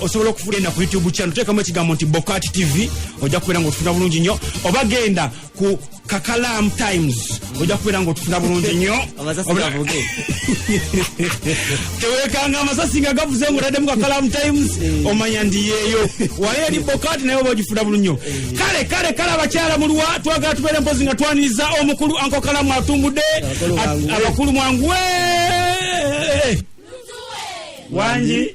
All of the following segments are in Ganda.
osobola okugenda ku youtube channel teekamu ekigambo nti bokat tv ojja kubeera nga otufuna bulungi nnyo oba genda ku kakalam times ojja kubeera nga otufuna bulungi nnyo tewekanga amasasi nga gavuze nga otaddemu kakalam times eh. omanya ndi yeeyo wali eri bokat naye oba ogifuna bulungi nnyo eh. kale kale kale abakyala muluwa twagala tubeere mpozi nga twaniriza omukulu ankokalamu atumbudde abakulu mwanguwe wangi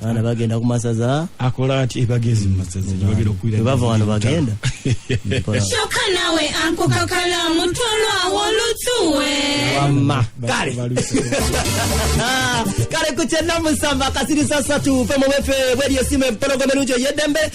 abaana bagenda ku masaza akola ati ebagezi mu masaza gyebagenda okuwira bwe bava wano bagenda kyoka nawe ankukakala mutolwa wolutuwe wamma kale kale ku kyenamusamba kasirisa satu fe mu bwefe bweriyo simu empologoma enungi ey'eddembe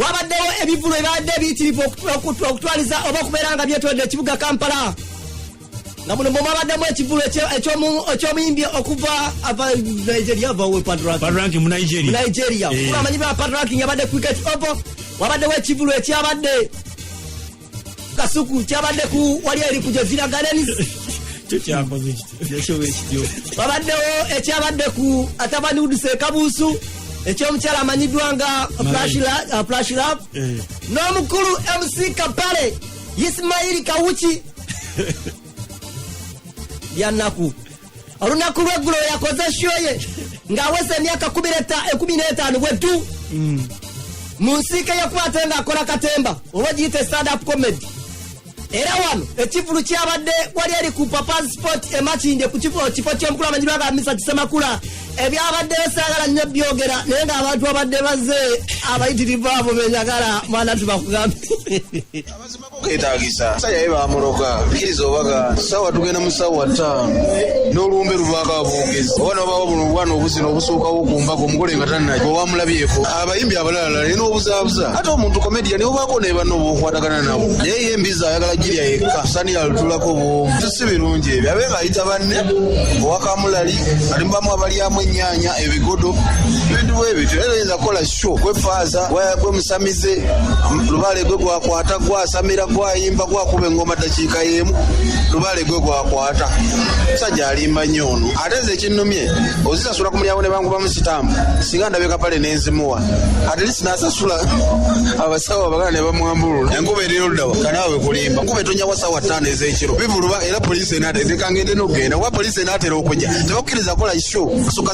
wabaddewo ebivulu ebibadde biyitirivu okutwaliza oba okubeera nga byetolodde ekibuga kampala nga muno mwebabaddemu ekivulu ekyomuyimbi okuva nigeria amanyi bapadraki yabadde cricket opo wabaddewo ekivulu ekyabadde kasuku kyabadde ku wali eri ku jazira gardens wabaddewo ekyabadde ku atabani uduse ekabuusu ekyomukyala amanyiddwa nga plashlap uh, eh. n'omukulu mc kapale isimaili kawuki byannaku olunaku lweggulo yakoze shoye ng'aweza emyaka ekumi n'etaano bwe ddu mm. mu nsiike yekwate ng'akola katemba oba giyita standup comedy era wano ekivulu kyabadde wali eri ku papa sport emakinde ku kifo ky'omukulu amanyi lwaga misa kisemakula ebyabadde besagala nnyo byogera naye ng'abantu abadde baze abayitirivu abo benyagala mwana tubakugambe ketagisa musajja ye bamuloga kkiriza obaga sawa tugenda mu sawa ttaano n'olumbe luvaako aboogezi oba nobawo buno obwana obuzina obusuukawo ku mbaga omugole nga tannaki owamulabyeko abayimbi abalalala naye n'obuzaabuza ate omuntu komediya niwe baako naye banna obaokwatagana nabo naye ye embizi ayagala girya yekka sani yalutulako bwomu si birungi ebyo abe ng'ayita banne owakamulali alimubamu abalyamu ennyaanya ebigodo ebintu bwebityo era yinza kukola kyo kwefaaza gwe musamize lubaale gwe gwakwata gwasamira gwayimba gwakuba engoma dakiika y'emu lubaale gwe gwakwata musajja alimba nnyo ono ate nze ekinnumye ozisasula ku mulyango ne bankubamu sitambu singa ndabye kapale nenzimuwa ate lisi nasasula abasawo abagala ne bamwambulula enkuba eri oludawa kanaawe kulimba nkuba etonya wa saawa ttaano ez'ekiro bivuluba era poliisi enaata ezekangende n'okugenda kuba poliisi enaatera okujja tebakkiriza kola isho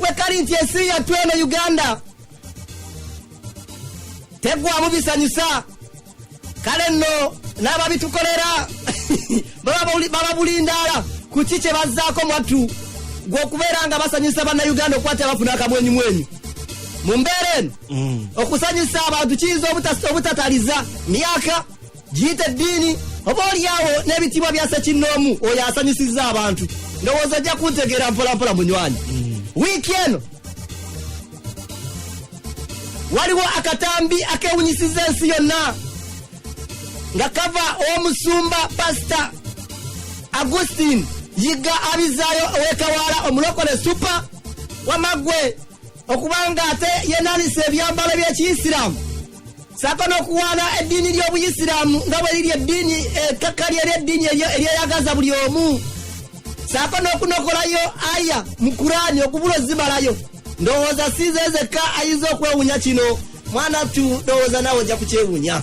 wekali nti ensi yattu eno uganda tegwamu bisanyusa kale nno n'ababitukolera baba bulindaala ku ki kye bazzaako mwattu gw'okubeera nga basanyusa bannayuganda okuba ti abafuna akamwenyumwenyu mu mbeera eno mm. okusanyusa abantu kiyinza obutataliza myaka giyita eddiini oba olyawo n'ebitiibwa bya sekinnoomu oyo asanyusizza abantu ndowooza ojja kuntegeera mpolampola munywanyi wiiki eno waliwo akatambi akewunyisiza ensi yonna nga kava omusumba pasita agustin yiga abizaayo owekawaala omulokole supa wamagwe okubanga ate yenanisa ebyambalo by'ekiyisiraamu saako n'okuwaana eddiini ly'obuyisiraamu nga bwe liri eddiini ekkakkali eri eddiini eryeyagaza buli omu saako n'okunokolayo aya mu kuraani okubula ozimalayo ndowooza siize ezekka ayinza okwewunya kino mwana tu ndowooza nawe ojja kukyewunya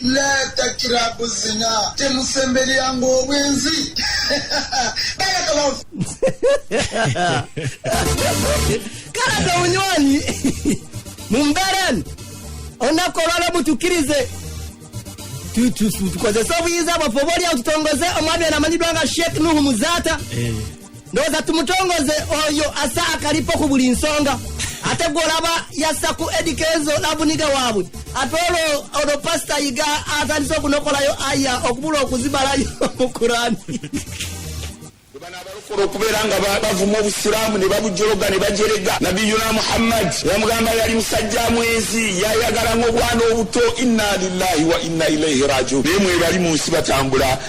latakirabu zina temusemberyanga obwenzi kalaga obunywanyi mu mbeerani olunaku olwaleero mutukirize tukozese obuyinza bwaffe oba olyawo tutongoze omwami anamanyiddwa nga sheikh nuhu muzaata eh. ndowooza tumutongoze oyo asa akalipo ku buli nsonga ate gwolaba yassa ku edikezo labuniga waabwe ate olwo olwo pasita yiga atandise okunokolayo aya okubula okuzibalayo mu kurani abalokole okubeera nga bavuma obusiraamu ne babujologa ne bajerega nabiyuna muhammad yamugamba yali musajja mwenzi yayagala ngaobwana obuto inna lillahi wa inna ilaihi rajiun naye mwebali mu nsi batambula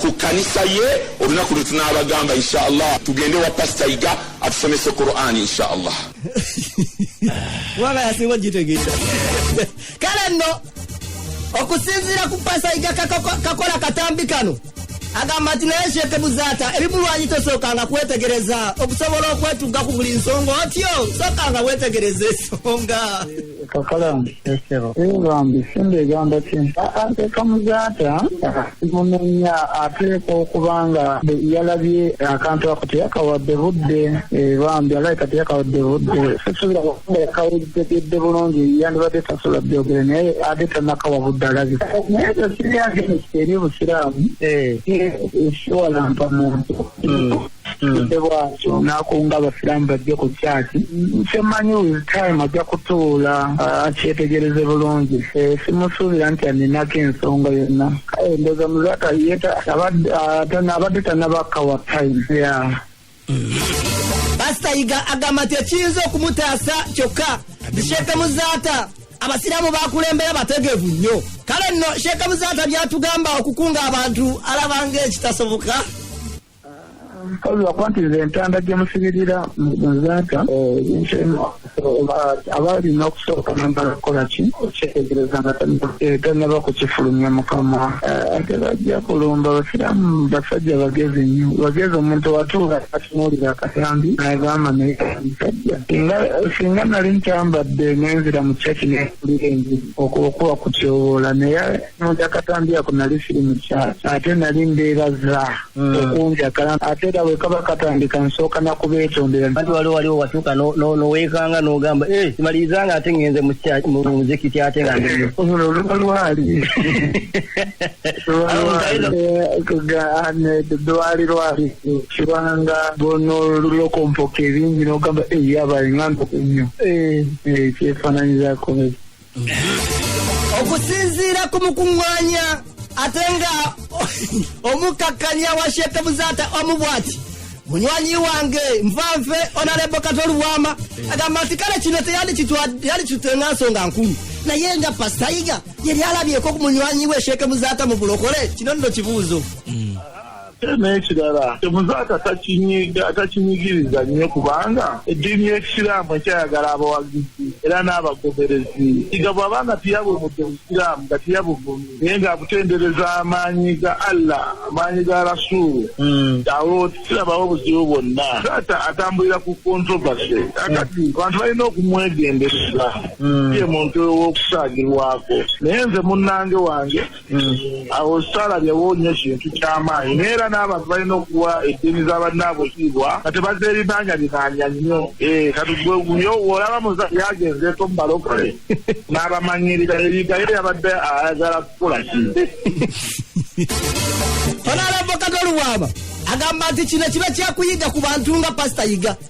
ku kkanisa ye olunaku lwe tunaabagamba insha allah tugende wa pasita yiga atusomese qurani insha allah wabayasiwa gitegeera kale nno okusinziira ku pasita yiga kakola katambi kano agamba nti naye sheeke buzaata ebimulwanyi tosookanga kwetegereza okusobola okwetugga ku buli nsonga otyo sookanga wetegereza esonga kakalambi esebo ee bambi simba egamba ki ateka muzaata munenya ateeka okuba nga yalabye akantu ako teyakawadde budde ee bambi alabika teyakawadde budde sisubira nga yakawulitegedde bulungi yandibadde tasobola byogere naye ate tanakawa budde alabika naye tekiryagenesi eri obusiraamu ee siwalampa muntu kitude hmm. bwatyo nakunga abasiraamu bajje ku kyaki kyemanyi with time ajja kutuula ah, akyetegereze bulungi simusuubira nti aninako ensonga yonna kale ndoza muzata yeta abadde tanabakka wa time ya pasita yiga agamba nti ekiyinza okumutaasa kyokka zisheeke muzaata abasiraamu bakulembera bategevu nnyo kale nno sheeke muzaata byatugamba okukunga abantu alabanga ekitasoboka Mpozzi wakuba nti nze entanda gye musibirira nzaata abaalina okusooka nambala kukola ki okyetegereza nga tannaba kukifulumya mukama ate bajja kulumba basiramu basajja bagezi nnyo bagezi omuntu watuula atunuulira akatambi nagamba naye musajja singa nali ntambadde nenzira mu kyaki nekulira enjiri okuba kutyoboola naye njakatambya ako nali siri mukyasa ate nali mbeeraza hmm. okunjakala ate era wekaba katandika nsooka nakubeetondera ati waliwo waliwo watuuka noweekanga nogamba eh, simaliriza nga ate ngenze muzikiti ate nga oluba lwali lwali lwali kibanga nolokompoka ebingi nogamba eyabaenganda eh, kunyo eh, kyefananyizako okusinziira ku mukuŋŋaanya ate nga omukkakkanya wa sheeke buzaata omu bwati munywanyi wange nvanve onalebo katolu bwama eh. agamba nti kale kino teyandikitwe nga nsonga nkulu naye nga pasitayiga yali alabyeko ku munywanyi we sheeke buzaata mu bulokole kino nno kibuuzo mm. ate n'ekirala temuzaata takinyiga takinyigiriza nnyo kubanga eddiini y'ekisiraamu ekyayagala abawagizi era n'abagoberezi kiga bw'aba nga tiyabumudde obusiraamu nga tiyabuvumi naye ng'abutendereza amaanyi ga allah amaanyi ga rasuulu hmm. awo kirabawo obuzibu bwonna taata atambulira ku kontrovasy akati hmm. abantu balina okumwegendereza hmm. ye muntu ow'okusaagirwako naye nze munnange wange Hmm. awo salabyewo nyo kintu kyamaanyi naye era n'abantu balina okuwa eddiini za bannaabwe kiibwa nga tebazeerinaanya binaanya nnyo eh, kati gweguyo olaba muza yagenze to mubalokole n'abamanyirira ebigaye yabadde ayagala kukola ki ono alavoka toluwaaba agamba nti kino kiba kyakuyiga ku bantu nga pasita yiga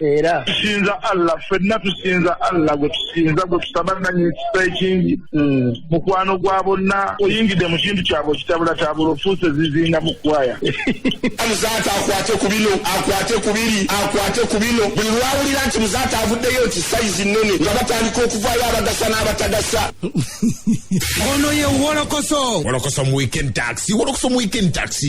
era tusinza allah fenna tusinza allah gwe tusinza gwe tusaba nanyi ekisa ekingi hmm. mukwano gwa bonna oyingidde mu kintu kyabwe okitabulatabula ofuuse zizinga mu kwaya muzaata akwate ku bino akwate ku biri akwate ku bino buli lwawulira nti muzaata avuddeyo nti sayizi nnene nga batandika okuvaayo abagasa n'abatagasa ono ye wolokoso wolokoso mu weekend taxi wolokoso mu weekend taxi